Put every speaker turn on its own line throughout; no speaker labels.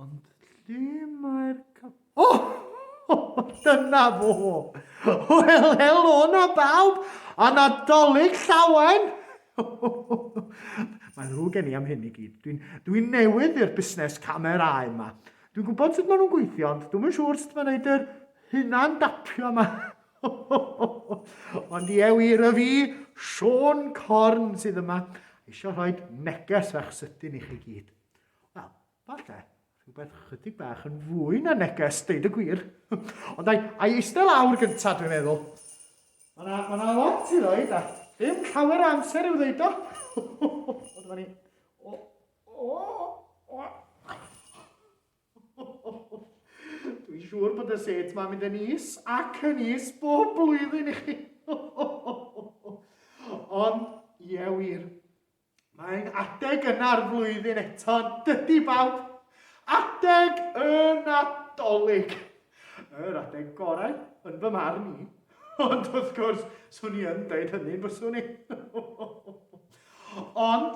Ond lle mae'r cap... O! O! Dyna fo! Wel, helo na bawb, a Nadolig llawen! Mae rhyw gen i am hyn i gyd. Dwi'n dwi newydd i'r busnes camerau yma. Dwi'n gwybod sut maen nhw'n gweithio, ond dwi'n siŵr sut mae'n gwneud yr hunan dapio yma. Ond ie wir, y fi, Sean Corn, sydd yma, eisiau rhoi neges fach sydyn i chi gyd. Wel, Falle, rhywbeth chydig bach yn fwy na neges, deud y gwir. Ond ai, ai eistedd lawr gyntaf, dwi'n meddwl. Mae yna ma, na lot i ddweud, a ddim llawer o amser i'w ddweud o. o, dyma ni. O, o, o. Dwi'n siŵr bod y set ma'n mynd yn is ac yn is bob blwyddyn i chi. Ond, ie wir, Mae'n adeg yna'r flwyddyn eto, yn dydy bawb? Adeg y Nadolig! Yr adeg gorau, yn fy marn i. Ond wrth gwrs, swn i yn dweud hynny'n fyswn i. Ond,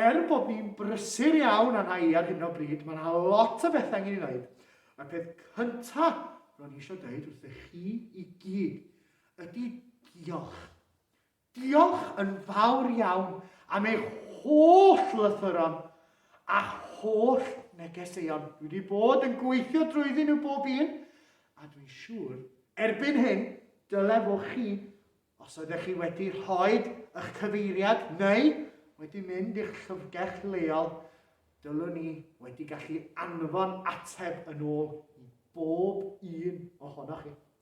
er bod ni'n brysur iawn a rhai ar hyn o bryd, mae yna lot o bethau angen ei wneud. Y peth cyntaf ro'n i eisiau dweud wrthych chi i gyd ydy diolch. Diolch yn fawr iawn am eich holl lythyron a'ch holl negeseuon. Dwi wedi bod yn gweithio drwyddyn nhw bob un, a dwi'n siŵr, erbyn hyn, dyle fo chi, os oeddech chi wedi rhoi eich cyfeiriad neu wedi mynd i'ch llyfrgell leol, dylwn ni wedi gallu anfon ateb yn ôl i bob un ohonoch chi.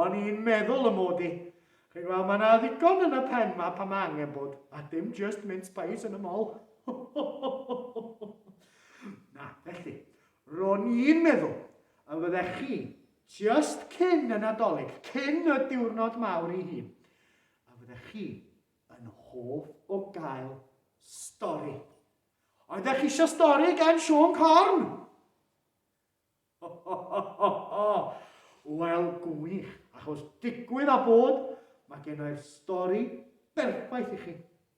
O'n i'n meddwl y mod i. Chi'n gweld, mae yna ddigon yn y pen ma pan mae angen bod, a dim just mince pies yn y mol. Na, felly, ro'n i'n meddwl y fyddech chi just cyn y Nadolig, cyn y diwrnod mawr i hun, a fyddech chi yn hoff o gael stori. Oeddech chi eisiau stori gan Siôn Corn? Ho ho ho ho ho! Wel, gwych, achos digwydd a bod, mae gennai'r stori berffaith i chi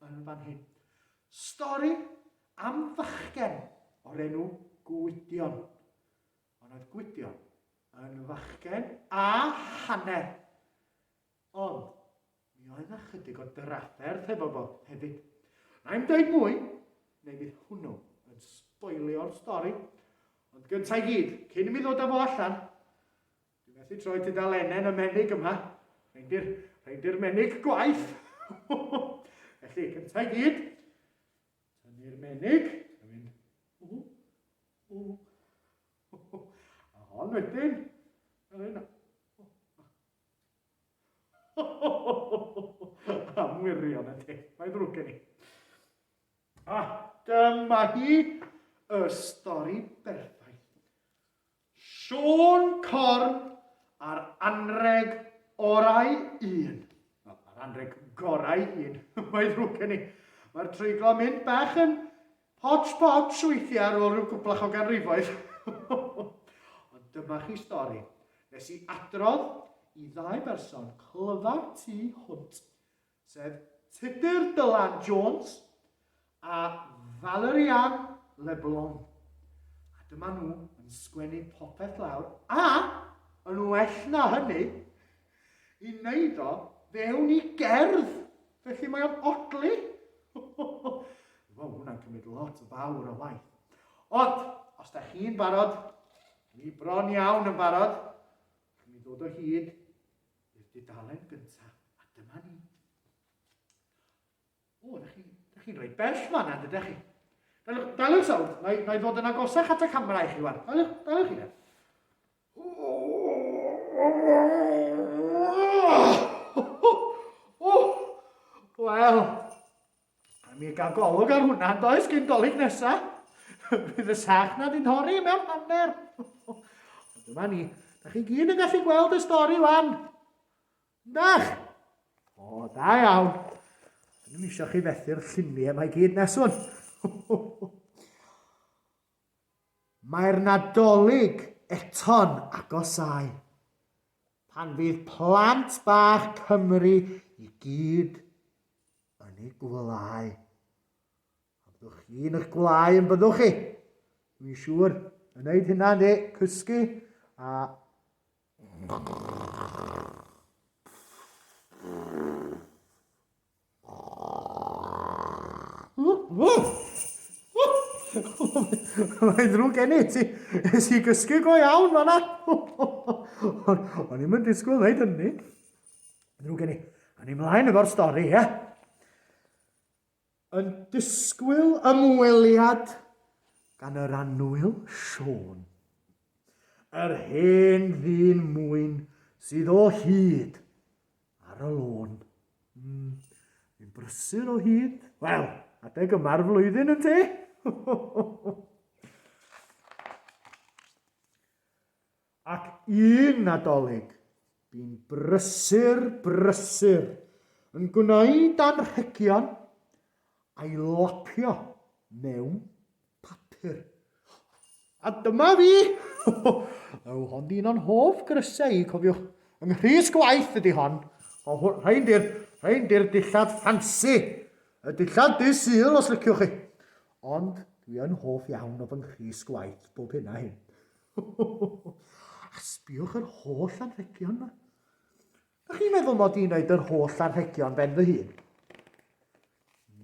yn fan hyn. Stori am fachgen o'r enw Gwydion. Ond oedd Gwydion yn fachgen a hanner. Ond, mi oedd 'na chydig o drafferth hefo fo hefyd. Na i'm deud mwy, neu fydd hwnnw yn sboilio'r stori, ond gynta i gyd, cyn i mi ddod â fo allan, dwi methu troi tudalenen y menig yma, rhaid i'r rhaid i'r menig gwaith. Felly, cynta i gyd, tynnu'r menig, a mynd, ww, ww, a hon wedyn, yr un, Am wirion y te, mae ddrwg gen i. A dyma hi, y stori berffaith. Siôn Corn a'r anreg orau un. Wel, yr anreg gorau un, mae ddrwg gen i. Mae'r treiglo mynd bach yn Hodge podge weithiau ar ôl rhyw gwplach o ganrifoedd. Ond dyma chi stori nes i adrodd i ddau berson clyfar tu hwnt, sef Tudur Dylan Jones a Valerian Leblon. A dyma nhw yn sgwennu popeth lawr a, yn well na hynny, i wneud o fewn i gerdd Felly mae o'n odli? Wel, hwnna'n cymryd lot o fawr o waith. Ond, os da chi'n barod, ni bron iawn yn barod, allwn ni ddod o hyd i'r dudalen gyntaf, a dyma ni. O, da chi'n chi rhoi bell man yna, dydych chi? Daliwch, daliwch sawd, na i ddod yn agosach at y camera i chi wan. Daliwch, daliwch chi na. Wel, mi gael golwg ar hwnna, does gen dolyg nesa. Bydd y sach na di'n hori mewn hanner. Ond dyma ni, da chi gyd yn gallu gweld y stori wan. Dach? O, da iawn. Dyn nhw'n eisiau chi fethu'r lluniau mae gyd neswn. Mae'r Nadolig eto'n agosáu, pan fydd plant bach Cymru i gyd yn eu gwelyau. A byddwch chi yn eich gwelyau yn byddwch chi? Dwi'n siŵr, yn neud hynna de, cysgu a... Mae'n ddrwg gen i, ti nes i gysgu go iawn fanna. O'n i'n mynd disgwyl wneud hynny. Ddrwg gen i. A ni mlaen efo'r stori, ie? Yn disgwyl ymweliad gan yr anwyl Siôn. Yr hen ddyn mwyn sydd o hyd ar y lôn. Mm, fi'n brysur o hyd. Wel, adeg yma'r flwyddyn yn te. Ac un nadolig, bu'n brysur, brysur, yn gwneud anrhegion a'i lapio mewn papur. A dyma fi! Yw hon un o'n hoff grysau i, cofiwch. Yng Nghrys Gwaith ydy hon. O, rhain di'r, rhain di'r dillad ffansi. Y dillad dy syl, os liciwch chi. Ond dwi yn hoff iawn o fy Nghrys Gwaith bob hyn a hyn. A sbiwch yr holl anrhegion yma. Dach chi'n meddwl mod i'n wneud yr holl anrhegion ben fy hun?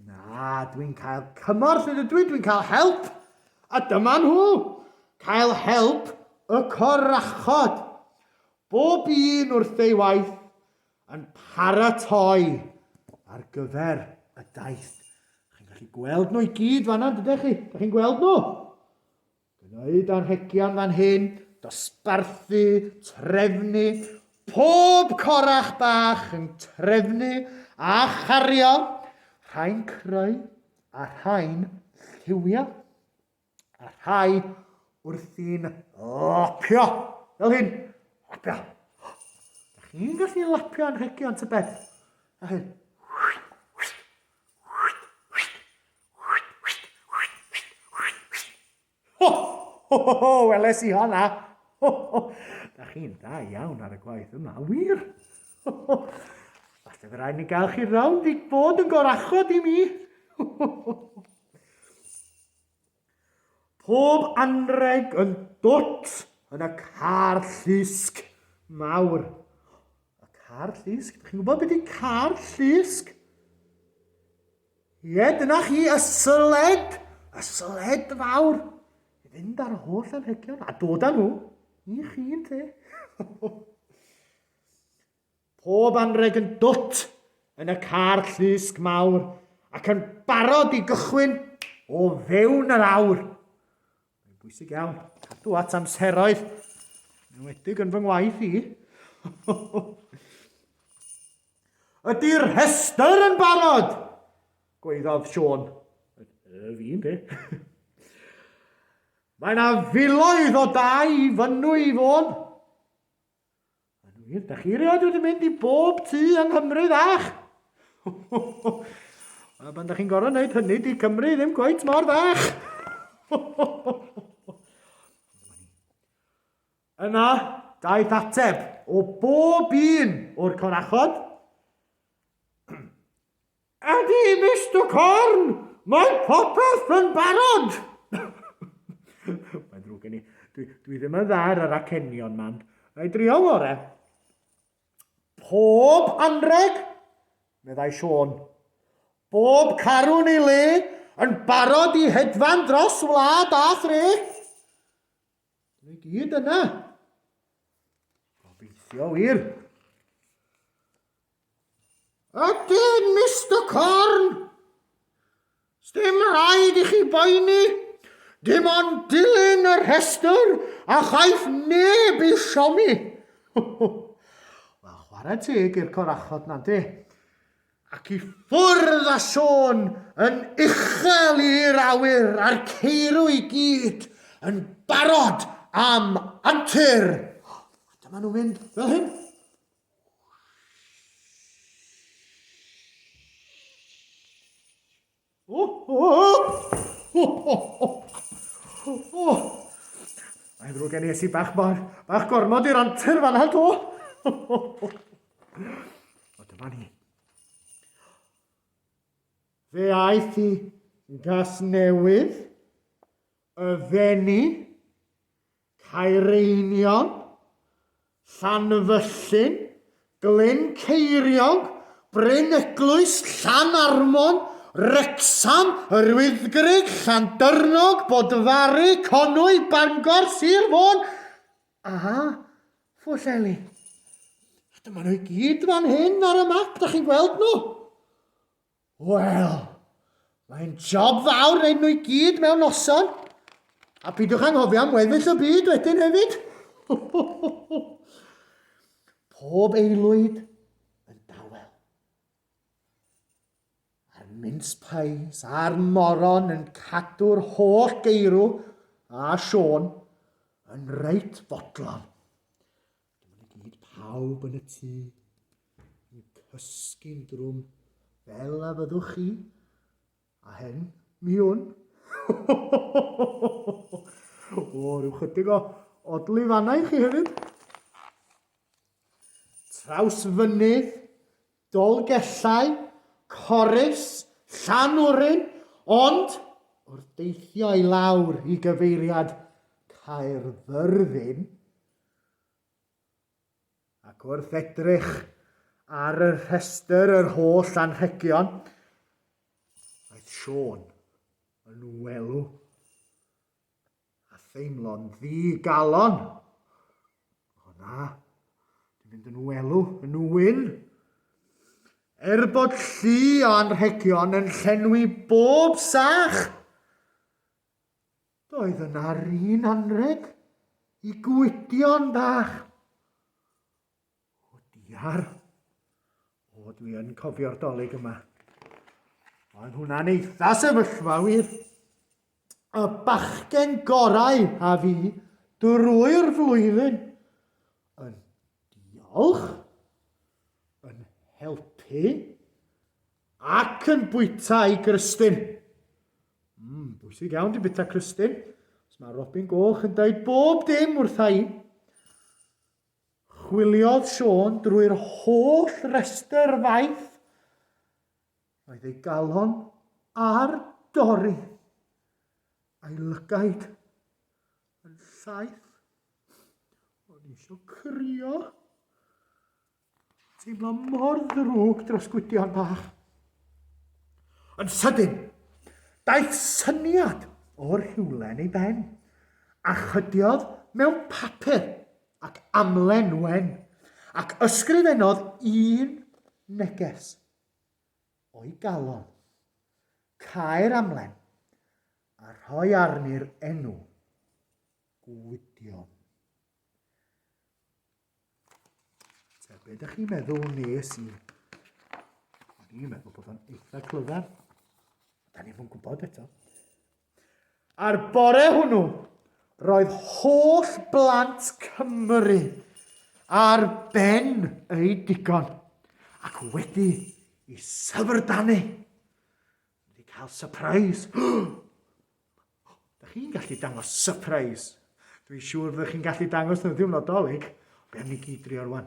Na, dwi'n cael cymorth yn ydw i, dwi'n cael help. A dyma nhw! Cael help y corachod. Bob un wrth ei waith yn paratoi ar gyfer y daith. Chi'n gallu gweld nhw i gyd fanna, dydych chi? Dych chi'n gweld nhw? Gwneud anrhegion fan hyn, dosbarthu, trefnu, pob corach bach yn trefnu a chario, rhai'n creu a rhai'n lliwio, a rhai wrthi'n lapio, fel hyn, lapio. Da chi'n gallu lapio anrhegion tybed? Fel hyn. Ho, ho, ho, ho, weles i honna. Ho, ho. Da chi'n da iawn ar y gwaith yma, wir. Ho, ho. Falle fe rhaid ni gael chi rownd i bod yn gorachod i mi. Ho, ho, ho. Pob anreg yn dwt yn y car llusg mawr. Y car llusg? Chi'n gwybod beth ydy car llusg? Ie, dyna chi, y syled, y syled fawr, i fynd ar y holl anrhegion a dod â nhw i chi yn te. Pob anreg yn dwt yn y car llusg mawr ac yn barod i gychwyn o fewn yr awr. Mae'n bwysig iawn, cadw at amseroedd, yn wedig yn fy ngwaith i. Ydy'r rhestr yn barod? Gweiddodd Siôn. Y fi'n de. Mae yna filoedd o dau i fynnu i fôn. Yn wir, da chi rioed wedi mynd i bob tŷ yng Nghymru fach? A pan da chi'n gorau wneud hynny, di Cymru ddim gwaith mor fach. Yna, daeth ateb o bob un o'r corachod. Ydy, Mister Corn, mae popeth yn barod! Mae'n ddrwg gen i. Dwi, dwi ddim yn dda ar yr acenion, man. Mae drio fore. Pob anreg, meddai Siôn. Bob carwn ei le yn barod i hedfan dros wlad a thre. Dyn nhw i gyd yna. Gobeithio wir. Ydyn, Mr Corn! Sdim rhaid i chi boeni. Dim ond dilyn y rhestr a chaiff neb i siomi. Wel, chwarae teg i'r corachod na di. ac i ffwrdd a sôn yn uchel i'r awyr a'r ceirw i gyd yn barod am antur. A dyma nhw'n mynd fel hyn. Mae'n ddrwg gen i esi bach mor, bach gormod i'r antur fan hal to. O, dyma ni. Fe aeth i gas newydd, y fenni, Caereinion, Llanfyllin, Glyn Ceiriog, Bryn Eglwys, Llanarmon, Wrecsam, Yr Wyddgrug, Llandyrnog, Bodfari, Conwy, Bangor, Sir Fôn a Phwllheli. A dyma nhw i gyd fan hyn ar y map, da chi'n gweld nhw? Wel, mae'n job fawr wneud nhw i gyd mewn noson. A pidwch anghofio am weddill y byd wedyn hefyd. Pob eilwyd yn dawel. A'r mince pies a'r moron yn cadw'r holl geirw a Siôn yn reit fodlon. Dyma ni gyd pawb yn y tŷ, yn cysgu'n drwm, fel a fyddwch chi, a hen, mi hwn. o, rhyw chydig o odlu fanna i chi hefyd. Traws fynydd, dolgellau, corus, llan orin, ond wrth deithio i lawr i gyfeiriad Caerfyrddin, Ac wrth edrych ar y rhestr yr holl anrhegion, aeth Siôn yn welw a theimlo'n ddi-galon. O na, dwi'n mynd yn welw yn wyn. Er bod llu o anrhegion yn llenwi bob sach, Doedd yna 'r un anrheg i Gwydion bach. O diar. O, dwi yn cofio'r dolyg yma. Oedd hwnna'n eitha sefyllfa wir. Y bachgen gorau a fi drwy'r flwyddyn. Yn diolch, yn helpu ac yn bwyta i Gristyn. Mm, bwysig iawn di bita Christine. Os mae Robin Goch yn dweud bob dim wrtha i. Chwiliodd Sean drwy'r holl restr faith. Roedd ei galon ar dorri. A'i lygaid yn llaeth. O'n i eisiau crio. Teimlo mor ddrwg dros Gwydion bach. Yn sydyn, daeth syniad o'r rhywle yn ei ben, a chydiodd mewn papur ac amlen wen, ac ysgrifennodd un neges o'i galon. Caer amlen, a rhoi arni'r enw Gwydion. Te, be ydych chi'n meddwl nes i? Dwi'n meddwl bod o'n eitha clyfar. Da ni fod gwybod eto. A'r bore hwnnw, roedd holl blant Cymru ar ben ei digon ac wedi i syfrdanu. Wedi cael surprise. Dych chi'n gallu dangos surprise. Dwi'n siŵr fyddwch chi'n gallu dangos nhw ddim nodolig. Be am ni gyd drio rwan?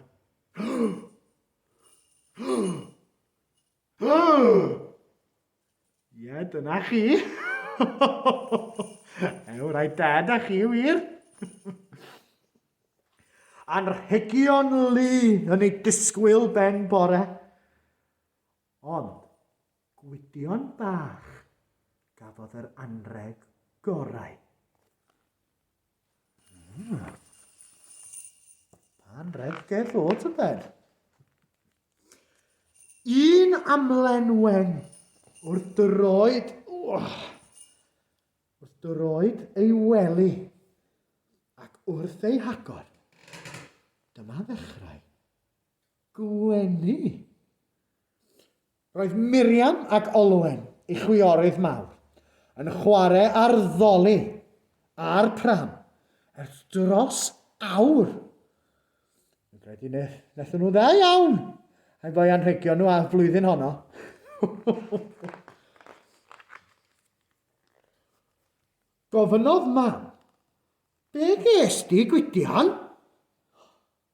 Ie, dyna chi. Ew, rai da da chi wir. Anrhegion lu yn ei disgwyl ben bore. Ond, Gwydion bach, gafodd yr anrheg gorau. Mm. Anrheg ger fod yn ben. Un amlenwen wrth dyroed, oh, wrth dyroed ei wely ac wrth ei hagor. Dyma ddechrau gwenu. Roedd Miriam ac Olwen, ei chwiorydd mawr, yn chwarae ar ddoli a'r pram ers dros awr. Dwi'n credu na- wnaethon nhw'n dda iawn, rhaid fo'i anrhegio nhw a'r flwyddyn honno. Gofynnodd Mam, Be ges di, Gwydion?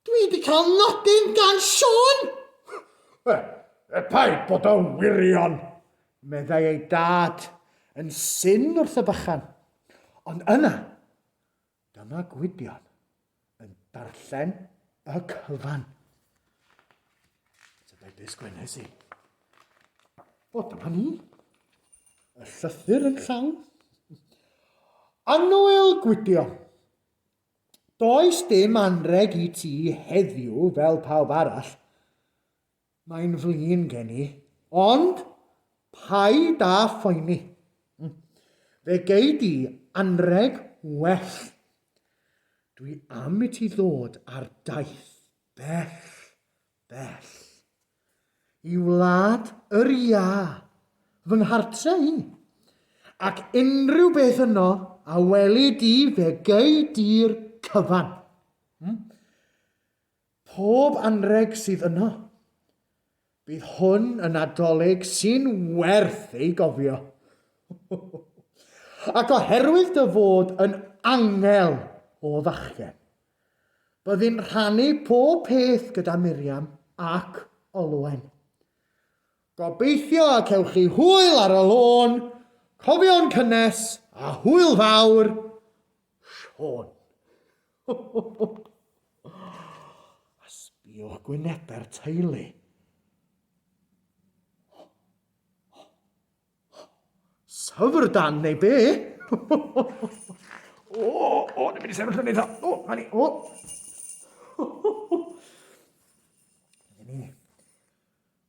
Dwi wedi cael nodyn gan Siôn! Wel, er paid bod o wirion, meddai ei dad yn syn wrth y bychan. Ond yna, dyma Gwydion yn darllen y cyfan. Tybed be sgwennes i? O, dyma ni. Y llythyr yn llawn. Anwyl Gwydion. Does dim anrheg i ti heddiw fel pawb arall, mae'n flin gen i, ond paid â phoeni, fe gei di anrheg well. Dwi am i ti ddod ar daith bell Bell. I wlad yr iâ, fy nghartre i, ac unrhyw beth yno a weli di fe gei di'r cyfan. Hmm? Pob anrheg sydd yno. Bydd hwn yn Nadolig sy'n werth ei gofio. Ac oherwydd dy fod yn angel o fachgen, Byddwn rhannu pob peth gyda Miriam ac Olwen. Gobeithio y cewch chi hwyl ar y lôn, cofion cynnes a hwyl fawr, Siôn. a sbiwch gwynebau'r teulu. Syfr dan neu be? o, o, dwi'n mynd i sefyll yn eitha. O, na ni, o.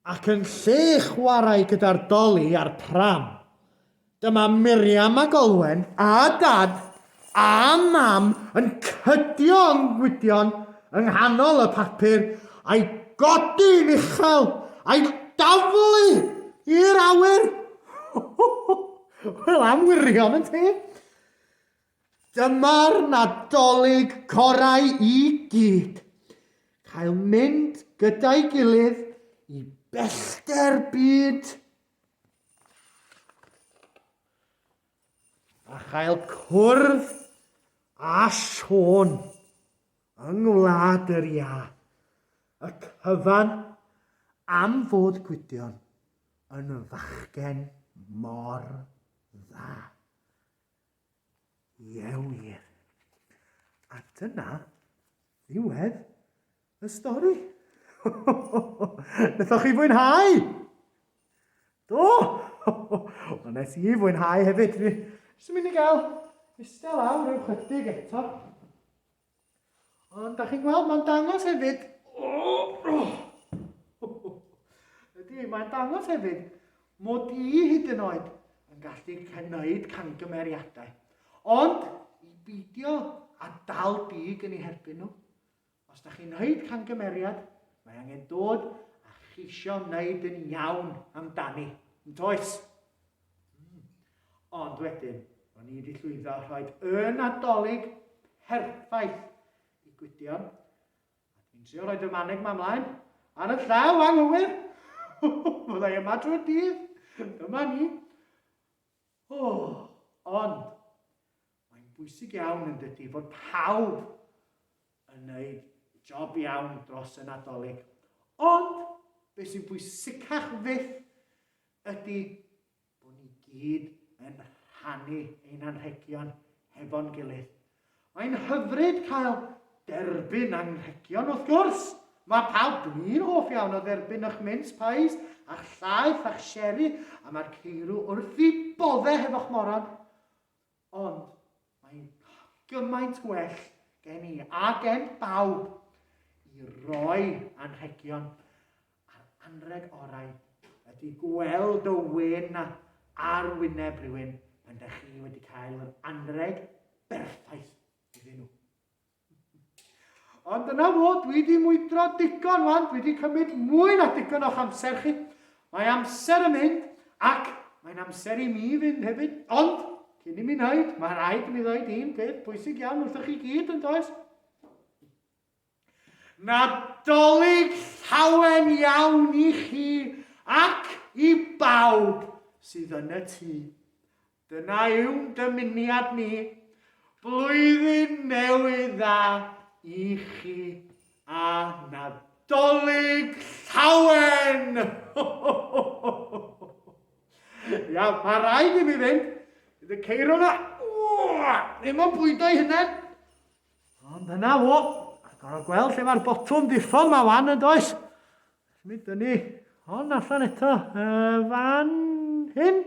Ac yn lle chwarae gyda'r doli a'r pram, dyma Miriam ac Olwen a Dad a mam yn cydio yng ngwydion yng nghanol y papur, a'i godi'n uchel, a'i daflu i'r awyr. Wel, am wirion yn ti! Dyma'r Nadolig gorau i gyd. Cael mynd gyda'i gilydd i bellter byd. a chael cwrdd â Siôn yng Ngwlad yr Iâ, y cyfan am fod Gwydion yn fachgen mor dda. Ie wir. A dyna ddiwedd Y stori? Nathoch chi fwynhau? Do! Wel, nes i fwynhau hefyd. Fi sy'n mynd i gael eistedd lawr rhyw chydig eto. Ond da chi'n gweld, mae'n dangos hefyd... Ydy, mae'n dangos hefyd mod i hyd yn oed yn gallu cynnydd cangymeriadau. Ond i beidio a dal dig yn ei herbyn nhw. Os da chi'n wneud camgymeriad, mae angen dod a cheisio wneud yn iawn amdani, yn toes? Hmm. Ond wedyn, o'n i wedi llwyddo a rhoi y nadolig perffaith i Gwydion, a dwi'n trio rhoi dy maneg ma mlaen, ar y llaw anghywir! Fyddai yma drwy'r dydd, dyma ni. Oh, ond, Mae'n bwysig iawn yn dydy fod pawb yn wneud job iawn dros y Nadolig. Ond beth sy'n bwysicach fyth ydy bod ni gyd yn rhannu ein anrhegion hefo'n gilydd. Mae'n hyfryd cael derbyn anrhegion wrth gwrs. Mae pawb, dyn ni'n hoff iawn o dderbyn eich mince pies, a'ch llaeth, a'ch sherry, a mae'r ceirw wrth i bodde hefo'ch moron. Ond mae'n gymaint gwell gen i a gen bawb i roi anrhegion a'r anreg orau ydy gweld dy wên ar wyneb rhywun pan dych chi wedi cael yr anreg berffaith iddyn nhw. Ond dyna fo, dwi wedi mwydro digon wan, dwi wedi cymryd mwy na digon o'ch amser chi. Mae amser yn mynd, ac mae'n amser i mi fynd hefyd, ond cyn i mi wneud, mae rhaid i mi ddweud un peth bwysig iawn wrthych chi gyd yn does? Nadolig llawen iawn i chi ac i bawb sydd yn y tŷ. Dyna yw'n dymuniad ni, Blwyddyn Newydd Dda i chi a Nadolig Llawen! Ia, mae rhaid i mi fynd, bydd y ceir yma, ddim yn bwydo i hunain. Ond dyna fo, a gorau gweld lle mae'r botwm ddiffon mae fan yn does. Mi dynnu hon allan eto, fan hyn.